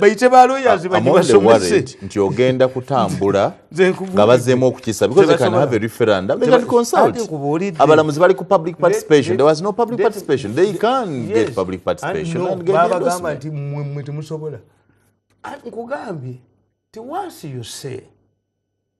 bayite baloyazibaibasomesenti ogenda kutambula nga bazemu okukisa abalamuzi bali ku public participation there was no public participation they can get public participationbagamba nti mwe temusobola nkugambye tiwansi yose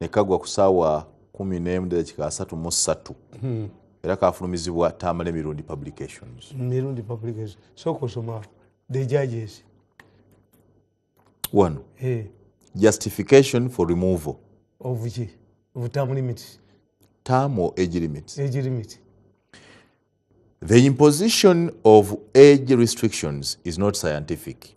nekagwa ku saawa kumi nemu dakika asatu mu ssatu hmm. era kafulumizibwa tamale mirundi publications mirundi publications soka osoma the judges wano hey. Eh. justification for removal of ki of term limits term or age limits age limit the imposition of age restrictions is not scientific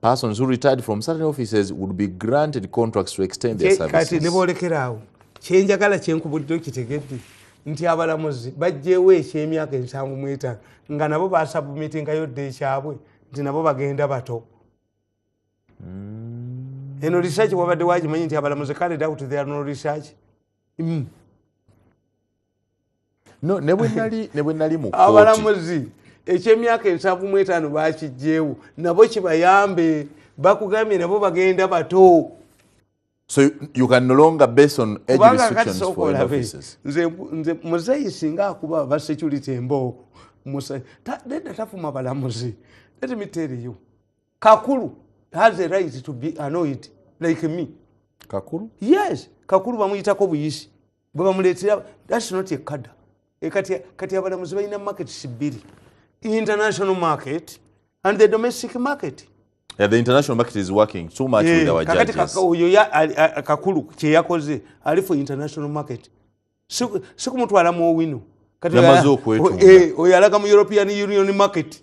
persons who retired from certain offices would be granted contracts to extend their services nebolekeraawo kyenjagala kyenkubulidde okitegedde nti abalamuzi bajjewo ekyemyaka ensanvu mwetano nga nabo basabumitingayo dde ekyabwe nti nabo bagenda bato mm. eno research wabadde wagimanyi nti abalamuzi kale doubt there no research mm. no ne bwe nali ne bwe nali mu kooti abalamuzi ekyemyaka ensanvu mu etaano bakijjeewo nabo kibayambe bakugambye nabo bagenda bato so you can no longer base on age restrictions for offices nze nze muzeyi singa akuba ba security embo musa ta denda tafuma balamuzi let me tell you kakulu has a right to be annoyed like me kakulu yes kakulu bamuyitako buyisi gwebamuletera thats not a kada e kati abalamuzi balina markets bbiri international market and the domestic market Yeah, the international market is working so much yeah, with our kakati judges. Oyo ya kakulu kye yakoze ali for international market. Siku siku mtu ala mo winu. Kati ya mazo kwetu. Eh, oyo alaga mu European Union market.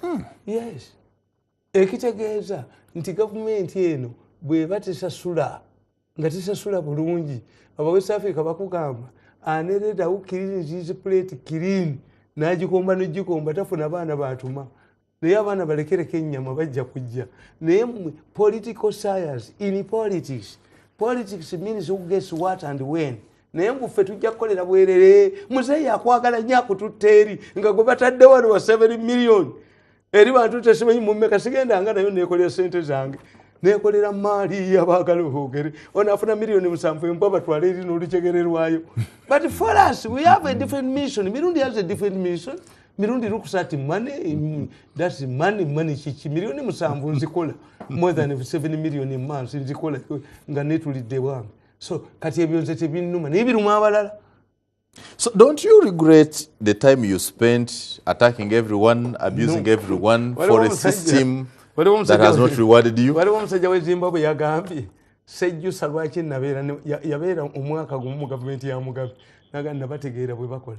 hmm. yes ekitegeeza nti gavumenti eno bweba tesasula nga tesasula bulungi aba west africa bakugamba aneredawo kirinzizi plate kirini nagikomba nogikomba tafuna baana batuma naye abaana balekereko ennyama bajja kujja naye mwe political science in politics politics means who gets what and when naye nguffe tujja kukolera bwerere muzeeyi akwagala nnyo akututta eri nga gwe batadde wano wa 7 million eri bantu tesimanyi mumeka sigenda nga nayo nekolera sente zange nekolera maali yabagala oogere onafuna miliyoni musanvu embwa batwala eri nolucegererwayo but for us we have a different mission mirundi has a different mission mirundi lukusa ati money mm, that's money money kiki milioni musanvu nzikola more than 7 million a month nzikola nga netulidde bwange so kati ebyo nze tebinnuma naye biruma abalala So don't you regret the time you spent attacking everyone, abusing no. everyone Wale for a system that has not rewarded you? Wale wamusajja we Zimbabwe yagambye sejjusa lwaki nabeera yabeera omwaka gumu mu gavumenti ya Mugabe naga nabategeera bwe bakola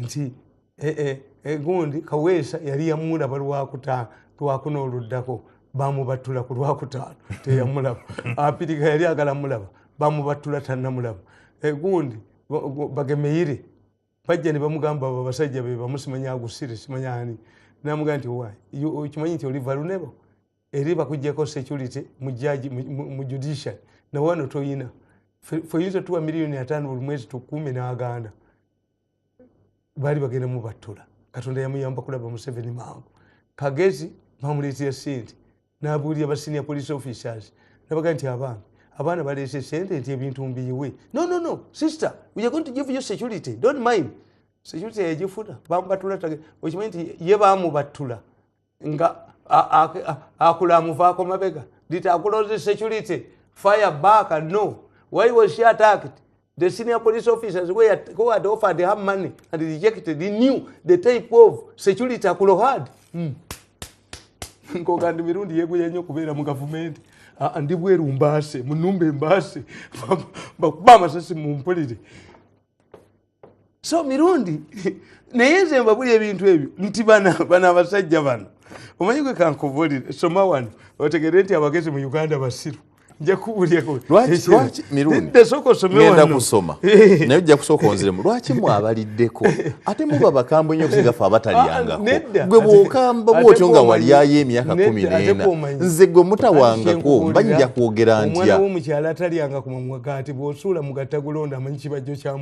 nti eh, eh, eh, gundi kaweesa yali yamulaba lwakuta lwakuna oluddako bamubattula ku lwakutaano teyamulaba apirika yali agala mulaba bamubattula tannamulaba gundi bagemeyire bajja ne bamugamba abo abasajja be bamu simanya agusire simanya ani namugaa nti wa okimanyi nti oli valunebo eri bakujjako security mujaji mu judiciary nawe wano toyina feyinza tuwa miliyoni ataano buli mwezi tukuume n'aganda baali bagenda mubattula katonda yamuyamba kulaba museveni mangu kagezi bamuleetera sente nabuulira ba senior police officers nabaga nti abaana abaana baleese sente nti ebintu mbiyiwe no no no sister weare going to give you security don't mind security yagifuna bamubattula okimanyi nti ye bamubattula nga akula amuvaako mabega did akula the security fire back and no why was she attacked the senior police officers who had offered her money and rejected he knew the type of security akulo had hmm. nkogandi mirundi yeguya nnyo okubeera mu gavumenti ah, ah, ndi bweru mbaase mu numba embaase bakuba amasasi mumpulire so mirundi naye nze mbabuli ebintu ebyo nti bana abasajja bano omanyi gwe kankubulire soma wano otegere nti abagezi mu uganda basiru nja kubulyakogenda kusoma naye ojja kusooka onziremu lwaki mwabaliddeko ate muba bakambwe nyo kusigafe abatalyangako ah, gwe bwokamba bwotyo nga walyayo emyaka kumi neena nze gwe mutawangako mba nja kwogera ntya omwana womukyalo atalyanga kumamwagaati bwosuula mugattagulonda amanyi kibajjo kyamu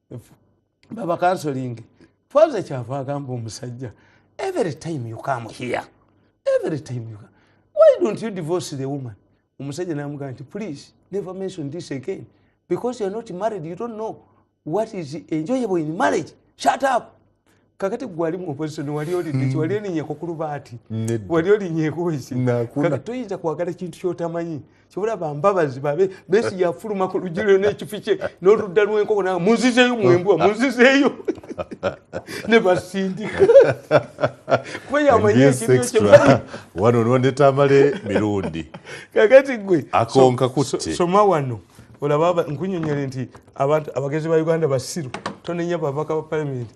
baba counseling faza kyava agamba omusajja every time you come here every time you come why don't you divorce the woman omusajja namugaa nti please never mention this again because you're not married you don't know what is enjoyable in marriage shut up kakati gwali mu opposition wali olidiki mm. wali olinyeko ku lubaati wali olinyeko eki kakati toyinza kwagala kintu kyotamanyi kyobola bambabazi babe besi yafuluma ku luggi lyo n'ekifi kye n'oludda lw'enkoko nawe munzizeeyo mwembwa munzizeeyo ne basindika kuba yamanyi ekintu kyemanyi wano nondeta amale mirundi kakati gwe akonka kutte soma wano olaba nkunyonyole nti abantu abagezi ba uganda basiru tonenya babaka ba palamenti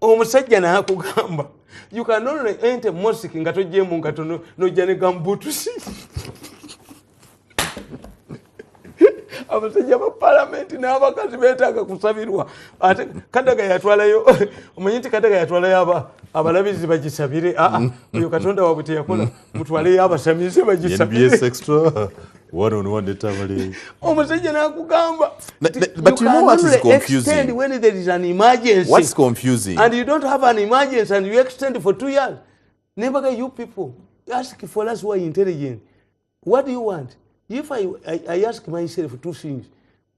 omusajja nakugamba you can only enter mosque nga tojemu nga tono nojja ne gambutusi abasajja ba palamenti n'abakazi betaaga kusabirwa ate kadaga yatwalayo omanyi nti kadaga yatwalayo abalabizi bagisabire aa ah, ah, oyo katonda wabwe teyakola mutwaleyo abasamize bagisaomusajja nakugamba nebaga you people ask for us who are intelligent what do you want if i, I, I ask myself two things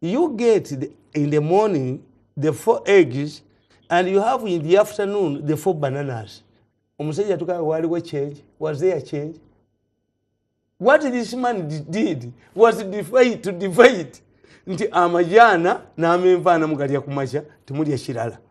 you get the, in the morning the four eggs and you have in the afternoon the four bananas omusajja tukaa waliwo change was there change what this man did was to divide nti amajaana n'amenvaana mugalya ku makya temulya kirala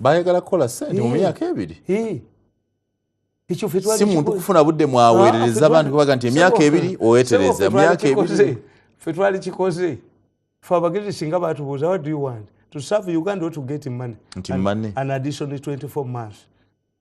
bayagala kukola sente mu myaka ebiri si muntu kufuna budde mwaweerereza ah, abantu kubaga nti emyaka ebiri owetereza emyaka ebiri fe twali kikoze fe abagezi singa batubuuza what do you want to serve uganda or to get money nti money an additional 24 months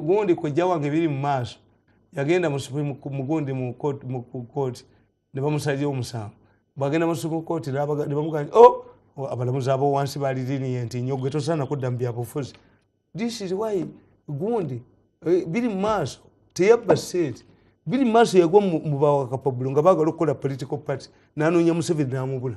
gundi kojja wange biri mu maaso yagenda mugundi mu kooti ne bamusalira omusango bwagenda mu supreme court ne bamugamba o oh, oh, abalamuzi abo wansi bali liniye nti nyo gwe tosaana kudda mu byabufuzi this is why gundi eh, biri mu maaso teyabba sente biri mu maaso yagwa mu bawakapabulo nga baagala okukola political party nanoonya museveni namubula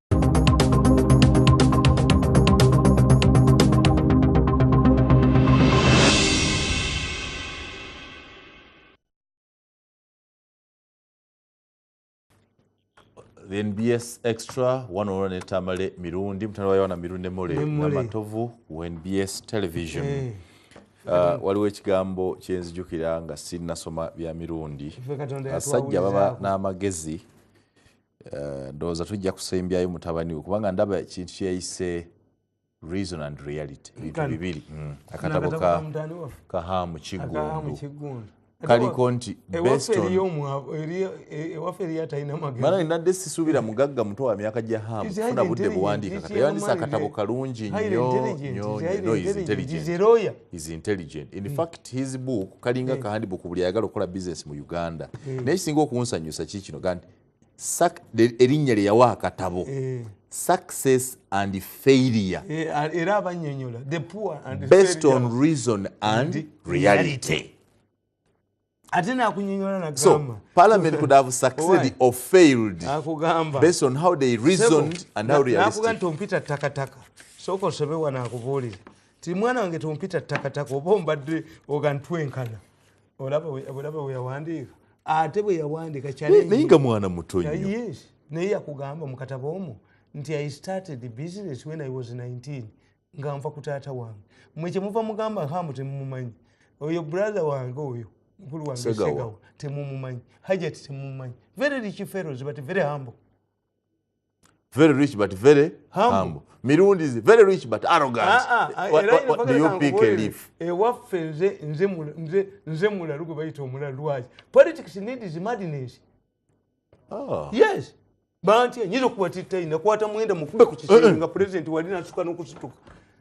the nbs extra wanoona ne tamale mirundi mutanda wa yowana mirundi nemole namatovu ku nbs television eh. ah, waliwo ekigambo kyenzijukira nga sinasoma bya mirundi abasajja baba n'amagezi Eh, ndowooza tujja kusembyayo mutabani we kubanga ndaba ekintu kyeyise reason and reality bintu bibiri mm. akatabo kahamu kiggundu kaliko nti mara nadde sisuubira mugagga muto wa myaka gya hamu funa budde buwandiika kata yawandisa akatabo kalungi nyointelligent in mm. fact his book kalinga kahandibuku buli ayagala okukola business mu uganda mm. naye kisinga okunsanyusa kikino gandi erinnya lye yawa akatabo eh. success and failure eh, era abanyonyola the poor and based on reason and reality ate nakunyonyola na so parliament could have succeeded or failed akugamba based on how they reasoned and how realistic nakugamba tompita takataka soko osobe wanakubuulira ti mwana wange tompita takataka oba ombadde ogantwenkana olaba weyawandiika ate bweyawandiika naye nga mwana muto nyo naye yakugamba mukatabo omu nti i started the business when i was 19 nga nva ku taata wange mwe kyemuva mugamba hamu temumumanyi oyo brother wange oyo mukulu wange segawa temumumanyi hajati temumumanyi very rich fellows but very humble very rich but very humble, humble. mirundi is very rich but arrogant ah, ah, ah, what, what, what do you pick a leaf ewaffe eh, nze nze nze nze mulalu gwe bayita omulalu lwaki politics need is madness oh. yes banti nyinza okuba titta ina kwata mwenda mukube ku kisenge eh, eh. nga president wali nasuka nokusituka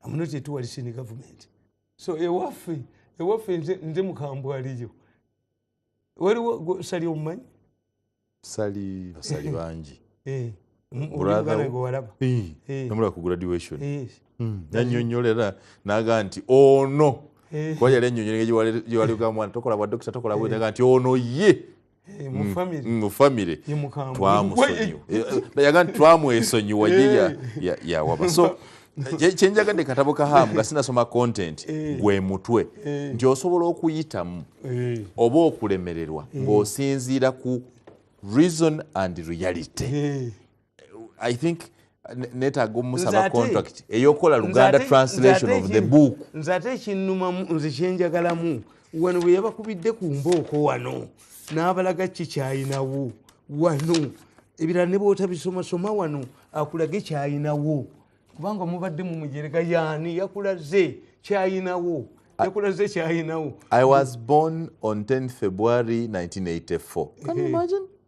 amunoti etuwalisini gavumenti so ewaffe ewaffe nze mukambwaliyo waliwo sali omumanyi sali basali bangi eh, namula ku graduation hmm, nanyonyolera naga nti ono eh. kuba yali anyonyolera gyewali ogamwana tokola bwa dokita tokola bwetaga nti ono ye Eh, mu mm, family mm, mu family ye mukambwe twamusonyiwa eh, eh, bayaga nti twamwesonyiwa ye ya ya ya waba so kyenjaga ne katabo ka hamu nga sinasoma content gwe mutwe nti osobola okuyitamu oba okulemererwa ng'osinziira ku reason and reality i think netaga omusaba contract eyokola luganda translation of the book nze ate ekinumamu nze kyenjagalamu wano bwe yabakubidde ku mbooko wano n'abalaga kikyayinawo wano ebirala ne bwotabisomasoma wano akulage kyayinawo kubanga mubadde mu mujerega yaani yakulaze kyayinawo yakulaze kyayinawo i was born on 10 february 1984 Can you imagine?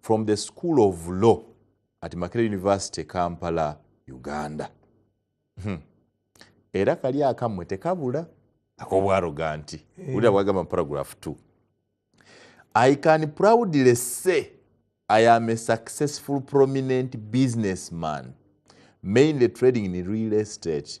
from the school of law at makere university kampala uganda hmm. era kali akamwe tekabula akobwaroga nti hey. Eh. ulira bwagamba paragraph 2 i can proudly say i am a successful prominent businessman mainly trading in real estate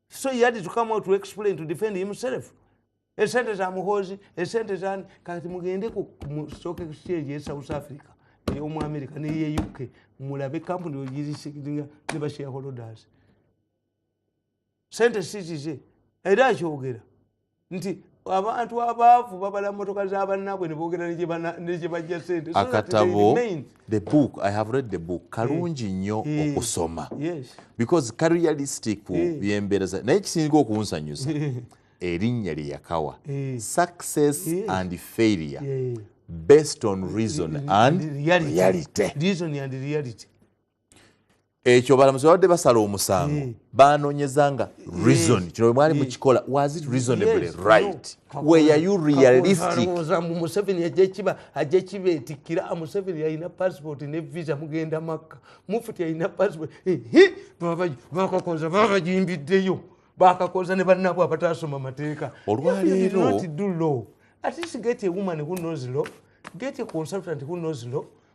so he had to come out to explain to defend himself esente za muhoozi esente zani kati mugende ku stock exchange ye south africa eyomu america neye uk mulabe kampuni ogirisinga ne bashareholders sente sizize era akyogera nti abantu abaavu babala motoka za bannabwe ne boogera ne gye bajja sente akatabo the book i have read the book eh. kalungi nnyo eh. okusoma because karealistic eh. byembeera za naye kisinga okunsanyusa erinnya lye yakawa success and failure based on reason and reality ekyo balamuzi babadde basala omusango eh. banonyeza nga eh. reason eh. kino bwemwali mukikola was it reasonably right were you realistic museveni ajekiba ajekiba etikira ah, museveni yalina passport ne visa mugenda makka mufuti yalina passport bakakoza bakajimbiddeyo bakakoza ne bannabwe abataasoma mateeka olwaleero at least get a woman who knows law get a consultant who knows law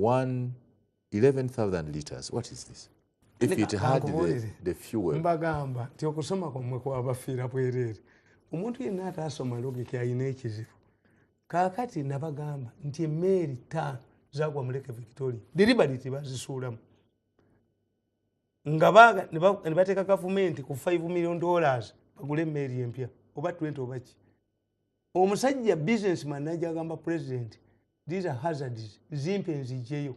one 11000 liters what is this if it had the, the fuel mbagamba nti okusoma kwamwe kwabafiira bwereere omuntu yenna ataasoma logiki alina ekizibu kaakati nabagamba nti emmeeri ttaano zagwa muleke victoria diribaliti bazisuulamu nga ne bateeka gavumenti ku 5 million dollars bagule emmeeri empya oba 20 obaki omusajja business man naja agamba president these are hazards zimpe nzijeyo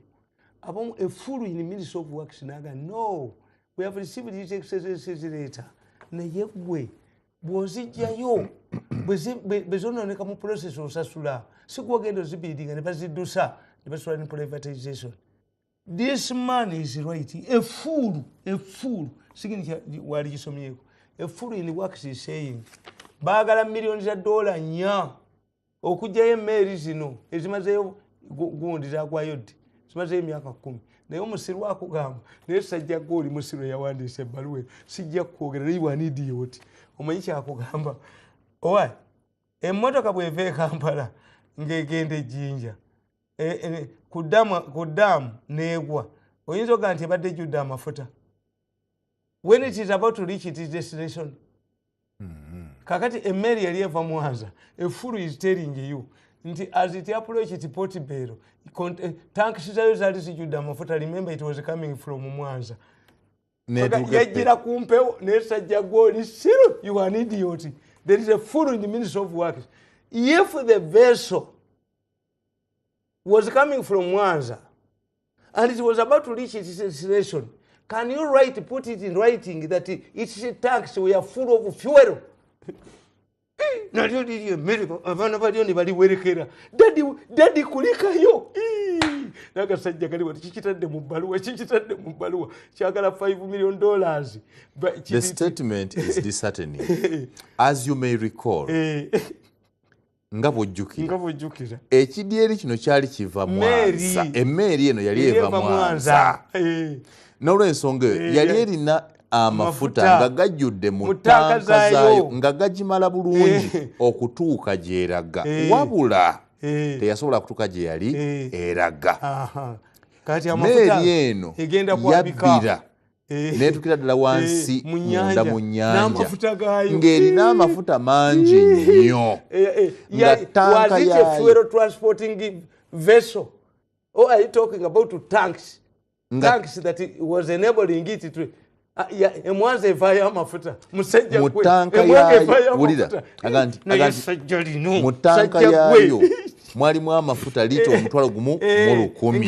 abamu a full in ministry of works naga no we have received this exercise later naye gwe bwozijjayo bwezononeka mu process osasula sikwogenda ozibiidinga ne baziddusa ne basula ne privatization this man is right efuulu efuulu sigini wali kisomyeko efuulu in works is saying baagala millioni za dola nya okugyayo emeeri zino ezimazeyo gundi zagwayo ddi zimazeyo emyaka kumi naye omusiru akugamba naye sajja gwe oli musiru eyawandiisa ebbaluwe sijja kukwogera naye wanidiye oti omanyi kyakugamba owa emmotoka bweva ekampala ng'egenda ejjinja eh, eh, ku daamu neegwa oyinza ogaa nti ebadde ejjudde amafuta when it is about to reach it is destination mm-hmm. kakati emmeeri yali eva mwanza efulu is telling you nti as it approach it port bero eh, tanks zayo zali zijjudde amafuta remember it was coming from mwanza yajjira ku mpewo nesajja gwoli siru you an idiot there is a fulu in the ministry of works if the vessel was coming from mwanza and it was about to reach its destination can you write put it in writing that its tax were full of fuel nalyo liri emeriko abaana balyo ne baliwerekera dadi dadi kulikayo nagasajja kaliwa kikitadde mu bbaluwa kikitadde mu bbaluwa kyagala 5 million dollars the statement is disheartening as you may recall eh. nga bwojjukira ekidyeri kino kyali kiva mwanza emmeeri eno yali eva mwanza eh. n'olwensonga eyo eh, yali erina amafuta nga gajjudde mu ttanka zaayo nga gagimala bulungi eh. okutuuka gyeraga wabula teyasobola kutuuka gye yali eraga meeri eno yabbira eh. netukira ddala eh, wansi munda mu nyanja ng'erina amafuta mangi nnyo eh, nga tanka yayo Oh, are you talking about to tanks? Nga, tanks that it was enabling it to ah, emwanza evayo amafuta musajja gwe mutanka yayo wulira aganti mutanka yayo mwalimu amafuta lita eh, omutwalo gumu eh, mu lukumi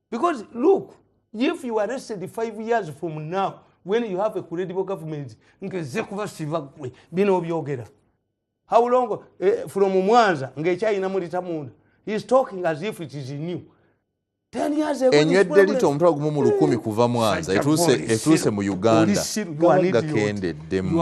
because look if you arrested five years from now when you have a credible government ngeze kubasiba gwe bino obyogera how long eh, from mwanza ngekyayina mulita munda he is talking as if it is new enywedde lita omutwalo gumu mu lukumi hmm. kuva mwanza etuuse mu uganda gaba gakendeddemu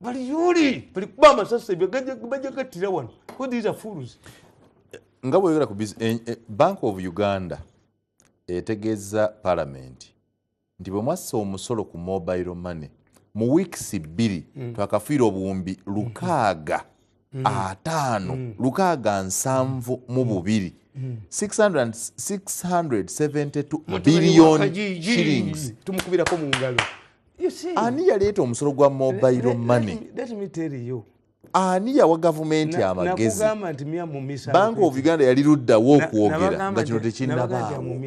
bali yuli bali kuba amasasi bajja gattira wano these are fools nga bweyogera ku eh, eh, bank of uganda etegeeza palamenti nti bwe mwassa omusolo ku mobile money mu wiikisi bbiri mm. twakafiira obuwumbi lukaaga mm. ataano mm. lukaaga nsanvu mm. mu bubiri 672 billion shillings tumukubirako mu ngalo ani yaleeta omusolo gwa mobile money ani yawa gavumenti amagezi bank of uganda yali luddawo okwogera nga kino tekinnabaawo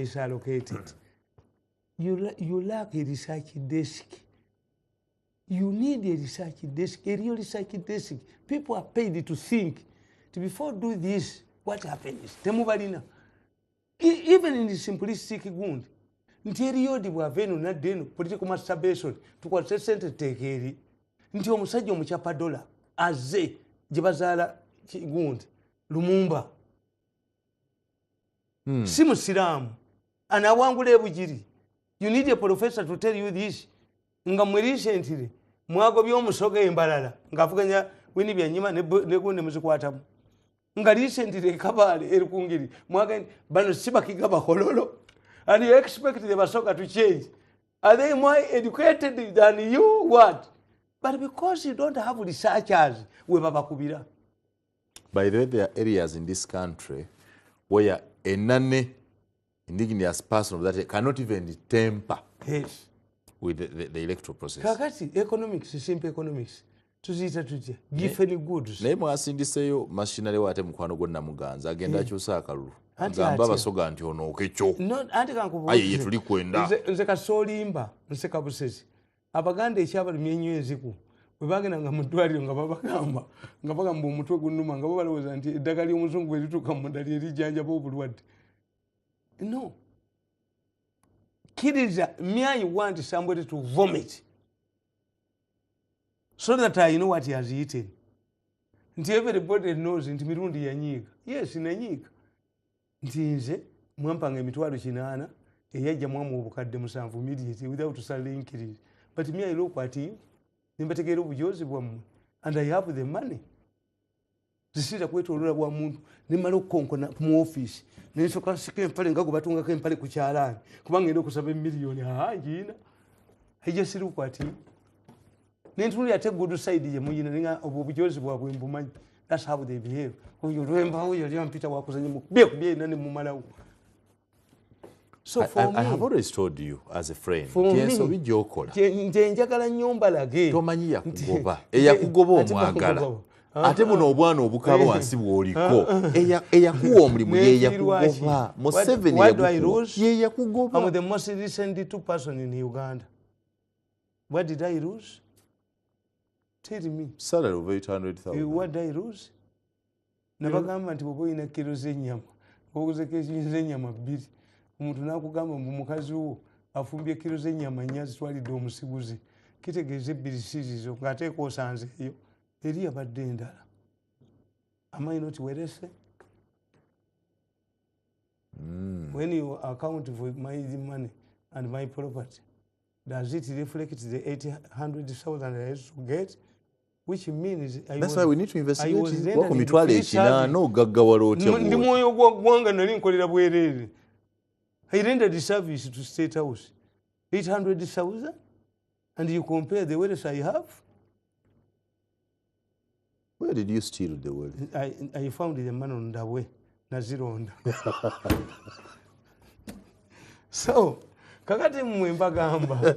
you, you lack a research desk You need a research desk, a real research desk. People are paid to think. To before do this, what happens? Temubalina. E, even in the simplistic gund, nti eriyo di bwava eno nadda eno political masturbation tukwatise sente teeka eri nti omusajja omucapa dola aze gye bazaala gundi lumumba hmm. si musiraamu anawangula ebugiri you need a professor to tell you this nga mwe recently mwagobya omusoga embalala ngaavuganya wini byanyima negunde muzikwatamu nga recently ekabaale eri kungeri mwagende bano sibakiga bakololo and you expect the basoga to change are they more educated than you what but because you don't have researchers webabakubira By the way, there are areas in this country where a nanny, indigenous person of that cannot even temper yes. with the, the, the electoral process. Kakati, economics, simple economics. tuziyita tutya gifeni goods naye mwasindiseyo mashinale wate mukwano gwo namuganza agenda akyusa eh. akalulu gamba abasoga nti onooke kyo aye yetuli kwenda nze kasoolimba nseka busezi abaganda ekyabalumya ennyo enziku bwe bagenda nga mu ddwaliro nga babagamba nga bagamba omutwe gunuma nga babalowooza nti eddagala ly'omuzungu bwe lituuka mu munda lye lijjanjaba obulwadde no kkiriza myayi wa nti sambwete to vomit so that i know what has eaten nti everybody knows nti mirundi yanyiiga yes nanyiiga nti nze mwampanga emitwalo kinaana eyajja mwamu obukadde musanvu immediately without salary increase but me i look at you nembategeera obujoozi bwammwe and i have the money zisiira kwetolola bwa muntu nemala okukonkona mu office nensoka nsika empale nga gwebatungako empale ku kyalaani kubanga enda okusaba emiliyoni aa ngiina i just look at you nentunulira te good side ye muyina ninga obwo bujozi bwabwe mbumanyi that's how they behave oyo lwemba oyo yali ampita wakuzanya mu bye bye ina ne mumalawo so for I, I, me i have always told you as a friend yes obi jokola nje njagala nyomba lage tomanyi yakugoba eyakugoba omwagala ah, ate ah. buno obwana obukaba eh. wansi bwoliko ah, eyakuwa omulimu yeyakugoba museveni yeyakugoba What did I lose? Tell me. Salary of 800,000. Eh, what did I lose? Nabagamba nti bwoba olina kiro z'ennyama oguze kiro z'ennyama bbiri omuntu n'akugamba mbu mukazi wo afumbye kiro z'ennyama nnya zitwalidde omusiguzi kitegeeza ebbiri sizizo ng'ateeka osanze eyo eri yabadde endala amayi noti werese mm. when you account for my money and my property does it reflect the 800000 i used to get which means I that's was, why we need to investigate I was then mitwale ekina no gaggawala otya ndi mwoyo gwa gwanga nali nkolera bwerere i rendered service to state house 800000 and you compare the wealth i have Where did you steal the well? I, I found the man on the way. Nazironda. so, kakati mwe mbagamba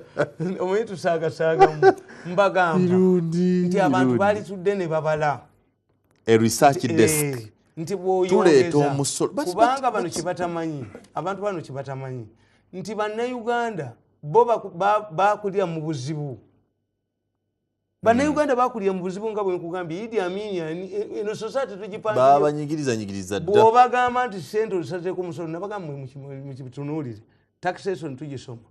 omwe tusaagasaaga mbagamba nti abantu baalitudde ne babala a research eh, desk nti bwoyongeza kubanga bano kyebatamanyi abantu bano kyebatamanyi nti bannayuganda bo bakulira mu buzibu bannayuganda mm. bakulira mu buzibu nga bwenkugambye idi amini eh, eno society tugipanbabagamba nti sente ozisazeeko omusolo nabagamba mukibitunuulire taxation tugisoma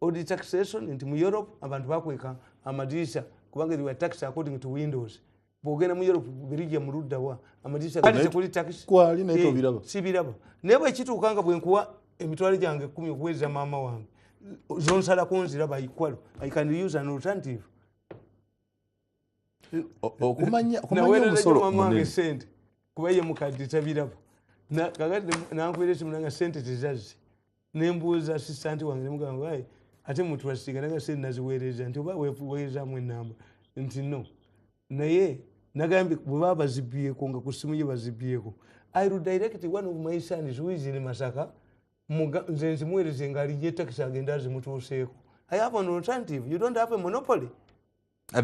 odi taxation nti mu europe abantu bakweka amadirisa kubanga iwa tax according to windows bwogenda mu europe bubirigi muluddawa amadirisakuli takisi kwali naye tobiraba eh, sibiraba naye bwekituuka nga bwenkuwa emitwalo gyange ekumi okuweereza maama wange zonsalako nziraba ikwalo i can use an alternative okumanya omusolo munene sente kuba ye mukadde tabiraba kakati nankuweereza munanga sente tezazze nembuuza sisanti wange nemugamba ayi ate mutrastinga naga sente naziweereza nti oba weweerezamu enamba nti no naye nagambye bwebaba bazibyeko nga ku simu ye bazibyeko i will direct one of my sons who is in masaka nze nzimuweereze nga alinye takisi agende azimutuuseeko i have an alternative you don't have a monopoly Ah,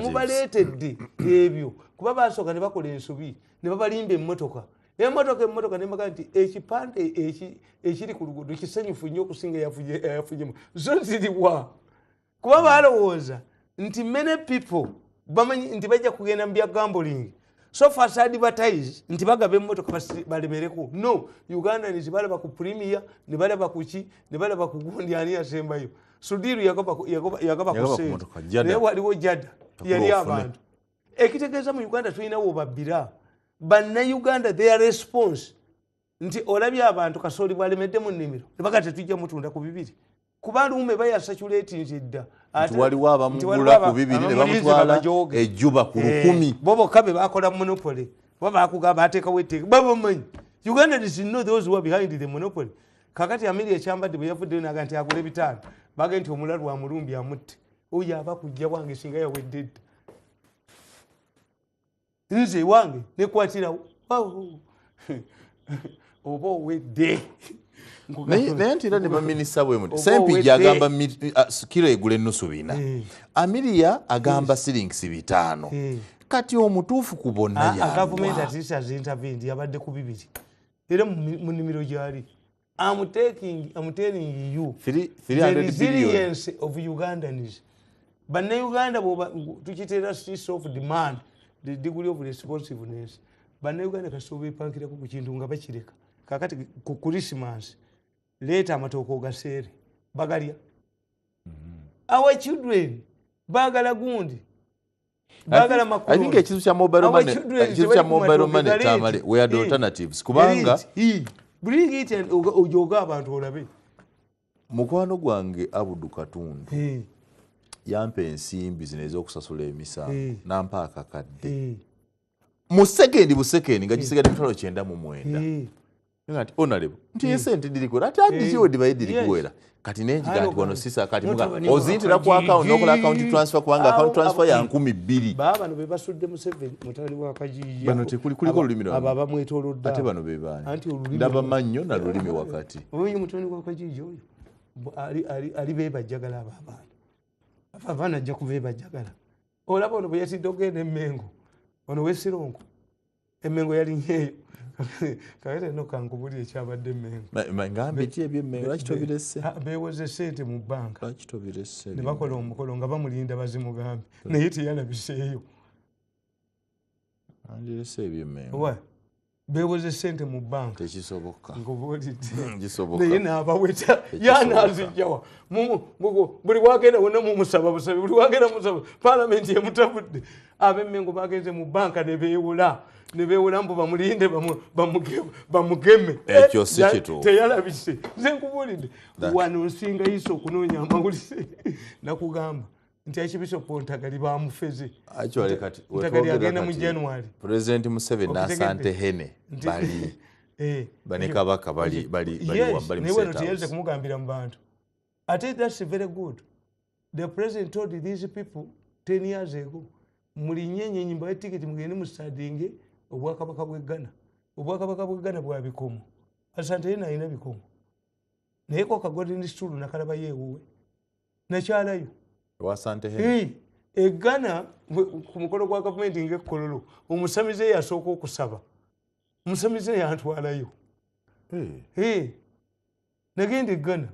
mubaleetedde ebyo kuba basooka ne bakola ensobi ne babalimba emmotoka emotoka emotoka nemaga nti ekipande ekiri ku luguudo kisanyufu nnyo okusinga yafunyemu zo ziriwa kuba balowooza nti many people bamanyi nti bajja kugenda mu bya gamboling so far as advertise nti bagaba emotoka balemereko no ugandans balaba ku premier nebalaba kuki nebalaba kugundi ani yasembayo sudiru yagaba kusenaye waliwo jada yali abantu ekitegeeza mu uganda tulina wobabbira bannayuganda their response nti olabye abantu kasooli bwalemedde mu nnimiro nebaga tetujja mutunda ku bibiri kuba luume bayasacula eti nti edda waliwo abamugula ku bibiri nebamutwala ejuba ku lukumi eh, bo bokka be bakola monopole oba bakugamba atekawo etteeka babamanyi uganda is no those who are behind the monopole kakati amiri ekyambadde bwe yavuddeyo naga nti agula ebitaano baga nti omulalu wa mulumbi amutte oyo aba kujja wange singa yawedde dda nze wange nekwatirawo oba owedde naye nti era ne baminisita bwemuti sempijja agamba ah, kiro egula ennusu bina eh. amiriya agamba siringisi bitaano eh. kati omutuufu ku bonna ah, ah, yagavumenti atiisa zintavendi yabadde ku bibiri era mu nimiro gyali am taking am telling you three, three the resilience billion. of ugandans bannayuganda tukiteera streets of demand the degree of responsiveness bannayuganda kasita obepankirako ku kintu nga bakireka kakati ku christmas leeta amatooka ogaseere bagalya mm-hmm. our children bagala gundi bagala makulu i think ekizu kya mobile money ekizu kya mobile money tamale we are the alternatives kubanga bring it and ujoga abantu olabe mukwano gwange abudu katundu hey. yampa ensimbi zino ezokusasula emisango hey. nampa akakadde hey. mu sekendi busekendi nga gisigade mitwalo kyenda mu mwenda hey. nga nti onalebo nti hmm. esente dirikuwera ati adiziwe eh, dibaye dirikuwera kati nenjiga nti wano sisa kati muga ozintira ku akawunti nokola akawunti transfer kubanga akawunti transfer ya nkumi bbiri babano bebasudde museveni mutabani wa kajiiyaano tekuli kuliko olulimi lwa abo abamwetolodde ate bano bebaani anti olulimi ndaba mannyo na lulimi wakati oyo mutabani wa kajiiya oyo ali bebajjagala abo abaana afa abaana ajja kubebajjagala olaba ono bweyatidde ogenda emengo ono wesirongo emengo yali nyeyo kale no kankubuli ekyabadde emengo ngambe ki ebyo emengo lwaki tobirese ah, bewoze sente mu banka lwaki tobirese ne bakola omukolo nga bamulinda bazimugambe naye teyalabiseeyo andirese ebyo emengo wa bewoze sente mu banka tekisoboka nkubulidenaye hmm, nabaweta yanazijjawa buli wagenda wona mumusaba busabi buli wagenda musaba palamenti emutabudde abemmengo bagenze mu banka nebewola nebewola mbu bamulinde bamugeme ekyo si eh, kitu teyalabise nze nkubulidde wano nsinga yiso okunoonya amawulise nakugamba nti akibisopo ntagali bamufeze ntagali agenda mu january president museveni nasante hene bali eh. bane kabaka bali bali bali wambali msetawo yes naye wano tiyeze kumugambira mu bantu ate that's very good the president told these people 10 years ago mulinye enyenyi mbaye tiketi mugende mustadinge obwakabaka bwe ghana obwakabaka bwe ghana bwa bikomo asante yena alina bikomo naye koka golden stool nakalaba yewuwe nakyalayo wasante hey. e ghana ku mukolo gwa gavumenti ngaekkololo omusamize yasooka okusaba omusamize yantwalayo hey. hey. nagenda eggana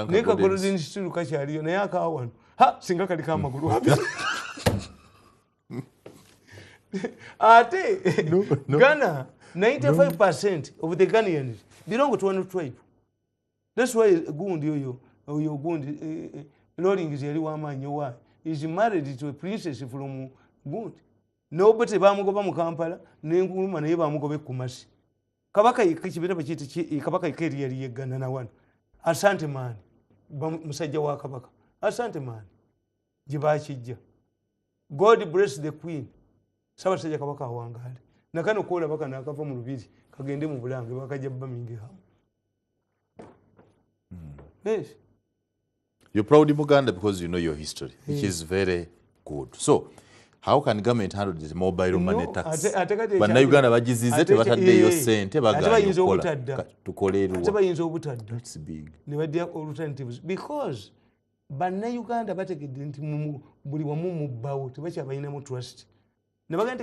naye kagolodeni kitiru kakyaliyo naye akawano ha singa kaliko amagulu abi ate gana 95 percent of the ganians belong to one tribe that's why gundi oyo oyo gundi eh, eh, lolings yali wamaanyi owa is married to a princess from gundi nobete bamugoba mu kampala nenkuluma naye bamugoba ekumasi kabaka kibira bakiyita kabaka yeka eri yali yeggana na wano asante maani musajja wa kabaka asante maani gye bakijja god bless the queen sabasajja kabaka awangaale nakano koolaba kano akava mu lubiri kagende mu bulange bakajja bamingehamu hmm. yes You're proud Muganda because you know your history, which is very good. So, how can government handle this mobile money no, tax? Bannayuganda bagizize tebataddeeyo ssente bagaanye okukola tukole eruwa. bayinza obutadda. That's big. Ne baddira alternatives because bannayuganda bategedde nti buli wamu mubbawo tebakyabalinamu trust.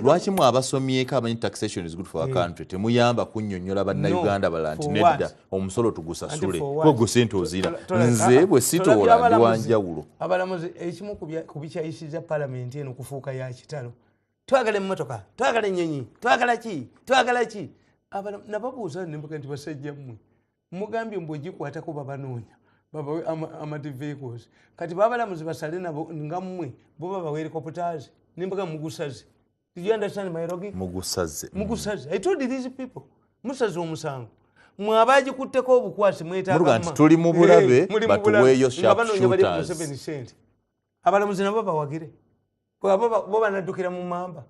lwaki mwe abasomyeko amanyi taxation is good for our hmm. country temuyamba kunyonyola bannayuganda bala nti nedda omusolo tugusasule kwegwo sente ozira nze bwe sitoola ndi wanjawulo abalamuzi ekimu ku bikyayisiza palamenti eno kufuuka ya kitalo twagala emmotoka twagala ennyonyi twagala ki twagala ki nababuuza nembuga nti basajja mmwe mugambye mbu egikwatako babanoonya babawe amadivehicles kati babalamuzi basale nabo nga mmwe bo babawe helicopters nembaga mugusaze did you understand my logic mugusaze mugusaze i told these people musaze omusango mwabagikutteko obukwasi mwetaaga nti tuli mu bulabe eh, batuweeyo sharp shooters abalamuzi nabo bawagire bo banaddukira mu mamba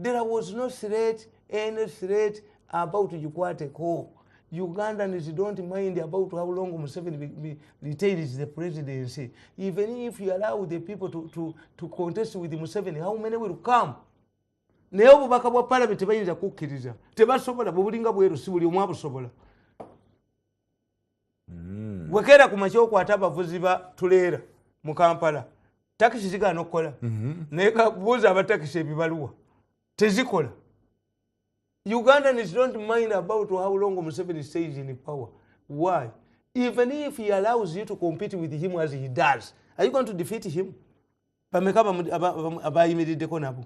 there was no threat any threat about gikwateko ugandans don't mind about how long museveni retains the presidency even if you allow the people to, to, to contest with museveni how many will come naye obubaka bwa palamenti tebayinza kukkiriza tebasobola bwebulinga bweru si buli omwabusobola hmm. wekeera ku makya okwata abavuzi ba tuleera mu kampala takisi zigaana okukola mhm. naye kabuuza abatakisi ebibaluwa tezikola ugandans don't mind about how long museveni stays in power why even if he allows you to compete with him as he does are you going to defeat him bameka abayimiriddeko nabo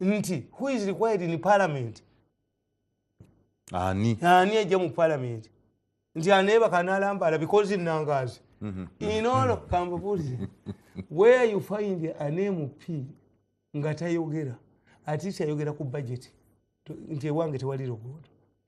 nti who is required in parliament ani ani ajja mu parliament nti anebaka nalambala because inangazi mhm. inolo kambabulize where you find an mp nga tayogera atiisi ayogera ku budget nti ewange tewali luguudo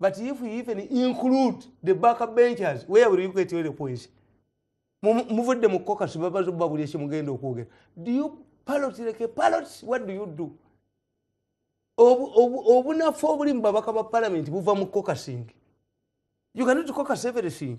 but if you even include the back benchers where will you get your points muvudde mu kokasi babazo babuli esi mugenda okwogera do you palot like a palot what do you do obunafu obuli mu babaka ba palamenti buva mu kokasing you cannot cocus everything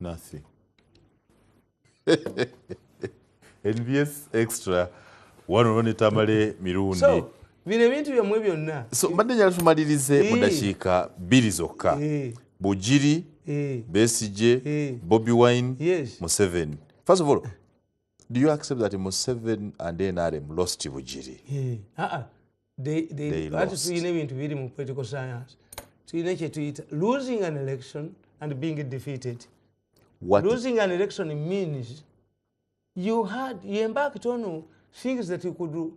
nothing nbs extra wano ne tamale mirundi so, bino ebintu byamwe byonna so mbadde njala tumalirize mu dakiika bbiri zokka bugiri besije bobi wine yes. museveni first of all do you accept that museveni and nrm lost bugiri yeah. uh -uh. ati tulina ebintu biri mu political science tulina kyetuyita losing an election and being defeated What? losing an election means you had you embarked on things that you could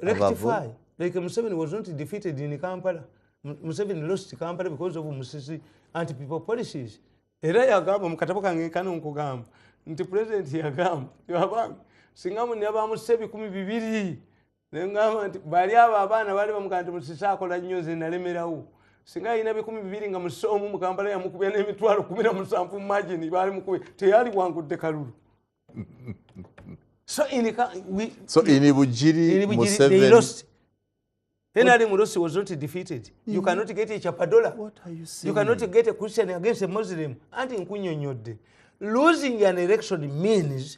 rectify like museveni was not defeated in kampala museveni lost kampala because of musisi anti people policies era yagamba mukatabo kange kano nkugamba nti president yagamba yabanga singa munyabamusa ebikumi bibiri nengamba nti bali abo abaana bali bamugaa nti musisa akola nnyo nze nalemerawo singa alina bikumi bibiri nga musisa omu mukampala yamukubya n'emitwalo kumi na musanvu mumagini baali mukubye teyali wangudde kalulu so in, we, so in bujiri, in bujiri they lost Henry Murusi was not defeated. You mm-hmm. cannot get a Chapadola. What are you saying? You cannot get a Christian against a Muslim. And in Kunyonyode. Losing an election means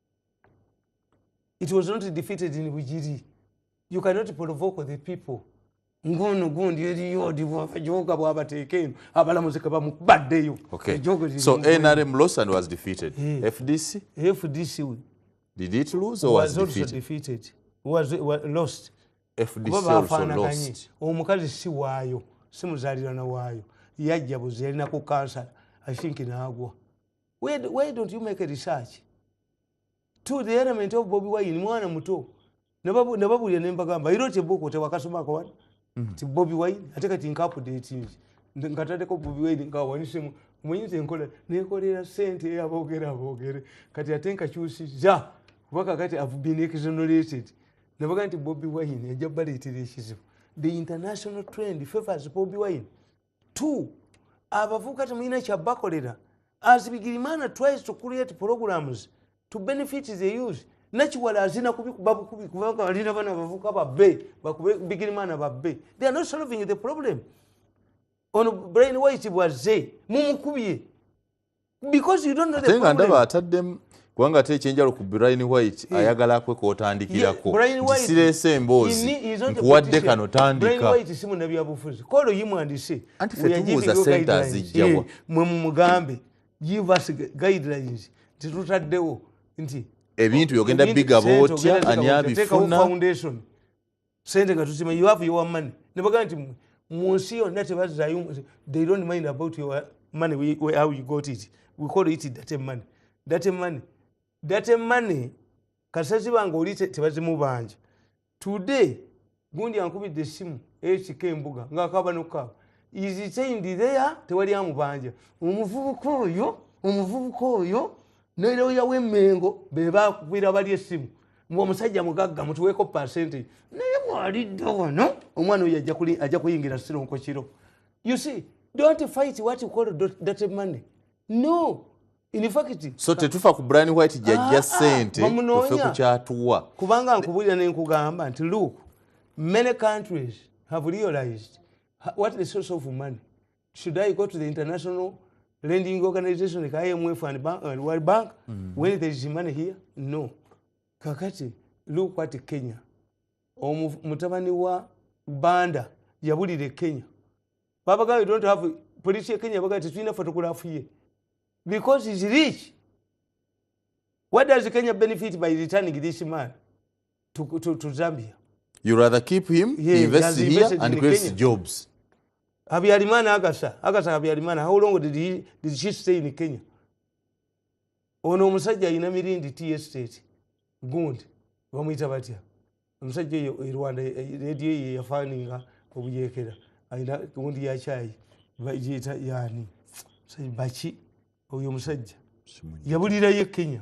it was not defeated in bujiri you cannot provoke the people ngono gundi eriyo odijoga bwabateeka eno abalamuzi kebamubaddeyo so nrm losan was defeated eh. fdc fdc did it lose or was, was defeated? defeated was, was lost fdc also lost omukazi si waayo si muzalirana waayo yajja buzi yalina ku kansala i think naagwa why, why don't you make a research to the element of bobi wine mwana muto nababulira nembagamba iro tebuku tewakasomako wano mm. ti bobi wine ate kati nkapudetingi nkatadeko bobi wine nkawanisemu muyinza enkola nekolera sente eyabogere abogere kati ate nkakyusi za kuba kakati have been exonerated nabaga nti bobi wine ajja baleetera ekizibu the international trend favors bobi wine t abavubuka temulina kyabakolera as bigirimaana tries to create programs to benefit the youth nakiwala azina kubikuba bukubi kubanga alina bana bavuka babbe bakube bigirimaana babbe they are not solving the problem ono brain white bwazze mumukubye ate nga ndaba ataddemu kubanga ate ekyenjalo ku brian white hmm. ayagala kwe kotandikirako kisiresa emboozi nkuwadde kano tandikaanti fetubuuza sente azijjawa mwe mumugambe give us guidelines nti tutaddewo nti ebintu byogenda bigaba otya ani abifuna sente nga tusima you have your money nebaga nti mu nsi yonna tebazayo they don't mind about your money we, we, how you got it we call it date money date money date money kasita ziba nga oli tebazimubanja today gundi ankubidde essimu ekika embuga ngaakaba nokukaaba izitendidea tewali amubanja omuvubuka oyo omuvubuka oyo ne looya w'emengo be bakukwira bali essimu mbu omusajja mugagga mutuweeko pasente naye mwalidda wano omwana oyo ajja kuyingira sironko kiro you see don't fight what you call dirty money no so tetufa ku brian white jajja ah, ah, sente tufe ku kyatuwa kubanga nkubulira ne nkugamba nti look many countries have realized what the source of money should i go to the international lending organization like imf and bank, uh, world bank mm -hmm. when there is money here no kakati look what kenya omutabani wa banda yabulire kenya babaga we don't have police ya kenya baga tetulina photograph ye because he's rich what does kenya benefit by returning this man to, to, to Zambia. You rather keep him, yeah, he invests he here and creates Kenya. jobs. Habyarimana Agasa, Agasa Habyarimana, how long did, he, did she stay in Kenya? Ono omusajja alina mirindi tea estate gundi bamuyita batya omusajja oyo e rwanda e, e, rediyo eyo yafaninga obuyekera alina gundi ya kyayi bagiyita yani baki oyo omusajja yabulirayo e kenya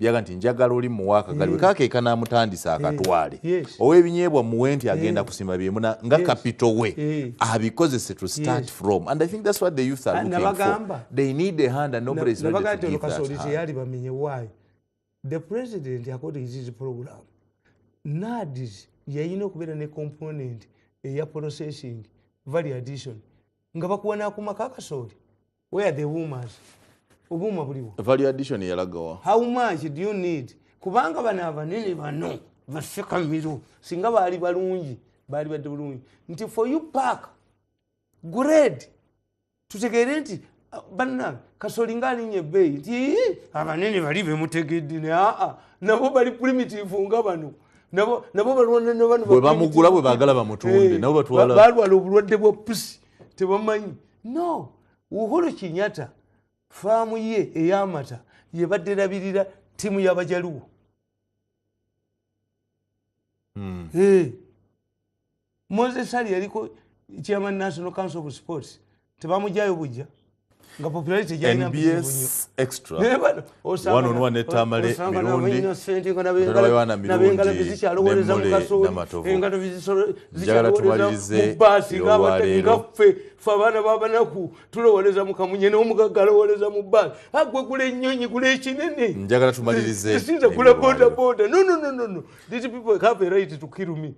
yaga nti njagala oli muwa akagaliwe yeah. kakeeka n'amutandisa eh, akatwale yeah. yes. ow'ebinyeebwa muwe nti eh. agenda yeah. kusima byemu nga yes. kapito we yeah. abikozese to start yes. from and i think that's what the youth are looking for they need a hand and nobody is ready to give that hand teyali bamenye why the president according to his program nadis yayina okubeera ne component eya processing value addition nga bakuwa n'akumaka akasooli where are the womas obuuma buliwo value addition yalagawa how much do you need kubanga bano abanene bano basekamiro singa baali balungi baali badde bulungi nti for you park grade tutegeere nti uh, banange kasoli nga alinya ebbeeyi nti abanene bali bemutegedde ne aa nabo bali primitive nga bano nabo balwananabano bwebamugula bwebagala bamutunde eh, nabo batwala balwala obulwadde bwa pusi tebamanyi no uhuru kinyata faamu ye eyamata yebadde erabirira ttiimu y'abajaluwo hmm. eh. moses ali yaliko chairman national council of sports tebamujayo bujja nga popularity jalinabs extra one on one ne tamale mirundi ndola yohana mirundi nemule namatovu njagala tumalirize olwaleero fe abaana babanaku tulowoleza mukamunye nomugaga alowoleza mu bbaala agwe gula ennyonyi gula ekinene njagala tumalirize esinza gula bodaboda no no no no no these people have a right to kill me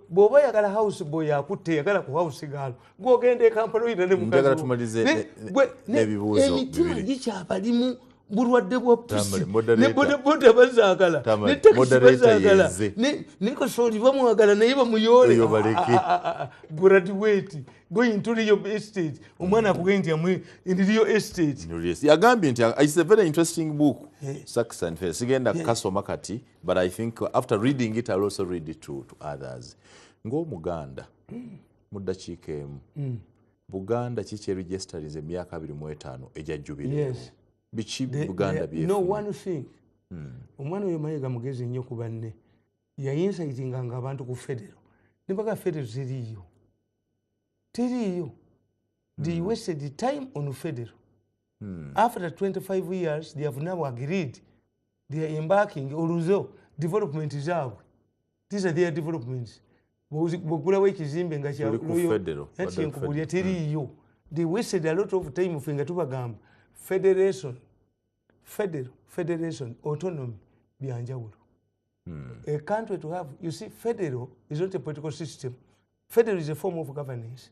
bwoba oyagala house boy akutte eyagala ku house gaalo gwogenda ekampala oyina ne mukaziemitima gikyabalimu bulwadde bwa pusi ne bodaboda bazagala ne takisi bazagala ne kasooli bamwagala naye bamuyoole graduate going to real estate omwana akuge nti amwe in real estate yagambye nti it's a very interesting book eh. saxon sigenda kukasoma kati but i think after reading it ill also read it to, to others ngaomuganda mu ddakiika emu mm. buganda kiki eregisterinze emyaka abiri mu etaano egya jubiri biki buganda byeno one thing hmm. omwana oyo mayega mugezi nnyo ku banne yayinsayitinga nga abantu ku federo nebaga federo teriiyo teriiyo they hmm. wasted the time on federo hmm. after 25 years they have now agreed they are embarking oluzo development zaabwe these are their developments bwogulawo ekizimbe nga kyankubulya eh, teriiyo hmm. they wasted a lot of time fe nga tubagamba federation federal federation autonomy byanjawulo hmm. a country to have you see federal is not a political system federal is a form of governance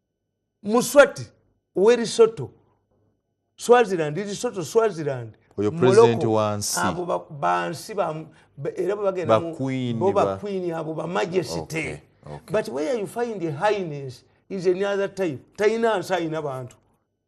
muswati werisoto swaziland risoto swaziland abo bansi era bwebagendabobakwini abo bamajesity but where you find a highness is any other type talina nsi alina bantu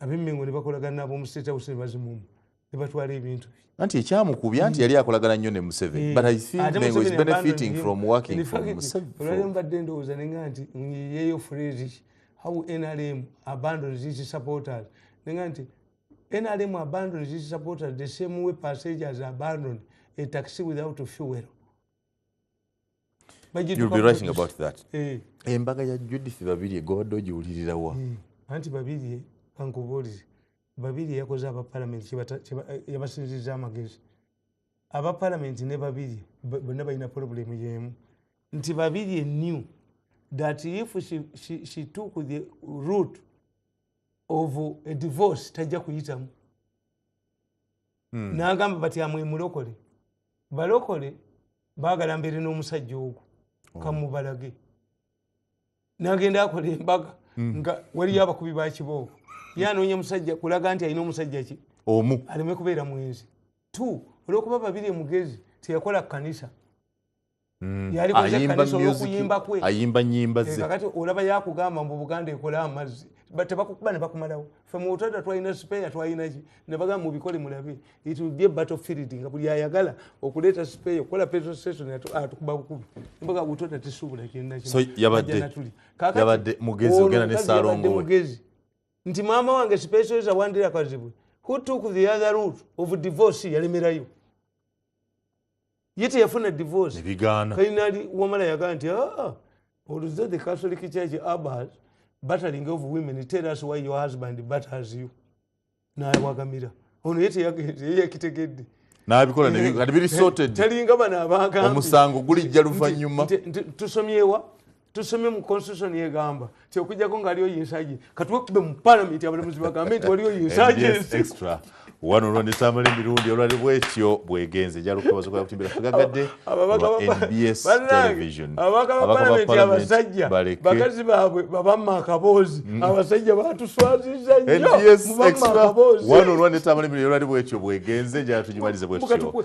abemmengo ne bakolagana n'ab'omu state house ne bazimumu ne batwala ebintu bye anti ekyamukubya nti yali akolagana nnyo ne museveni but i think Ate mengo is Museveni benefiting abandoned from him. working In for fact, museveni olwaleero mbadde ndowooza nenga nti yeyo phrase how nrm abandons its supporters nenga nti nrm abandons its supporters the same way passengers abandon a taxi without fuel embaga ya judith babirye gwobadde ogiwulirirawa eh, anti babirye ankubuulire babirye yakoze aba palamenti eh, yabasinziza amagezi aba palamenti ne babirye bonna balina pulobulemu yemu nti babirye new that if she, she, she took the root of a divorce tajja kuyitamu hmm. nagamba bati amwe mulokole balokole bagala mbere n'omusajja ogwo oh. kamubalage nagenda akola embaga hmm. nga waliyo abakubi bakiboobo ye anoonya musajja kulaga nti alina omusajja ki omu aleme kubeera mwenzi t olwokuba babiri emugezi teyakola kanisa Mm. ayimba nyimba zekati eh, olaba yakugamba mbu buganda ekola amazzi tebakukuba nebakumalawo fe mubutada twalina sipeya twalinaki nebagamba mubikole mulabe it will be a battle field nga buli ayagala okuleeta sipeya okukola petrol station atukuba bukubi mbaga butoda tisuubula kyenakiyabadde mugezi ogenda ne salongo mugezi nti maama wange sipeso eza wandira kazibwe who took the other route of divorce yalemerayo ye teyafuna divorce finally wamala yagaa nti aa ah, oluzze the catholic church abas battering of women tell us why your husband batters you nawagamira ono ye teyakitegedde nabikola kati biri sorted talinga bano abagambi omusango gulijja luvannyuma tusomyewa tusome mu constitution yegamba ti okujjako nga aliyo yinsaje katuwe kube mu parliament abalamuzi bagambe nti waliyo yinsaje extra wano olwanisamala emirundi olwali bwetyo bwegenze jalukubazokoyakutimbira tugagadde nbs television abasajja bakazi babwe babamma akaboozi mm. abasajja batuswaziza nyowano olwanisamala emirundi olwali bwetyo bwegenze jatujimalize bwetyo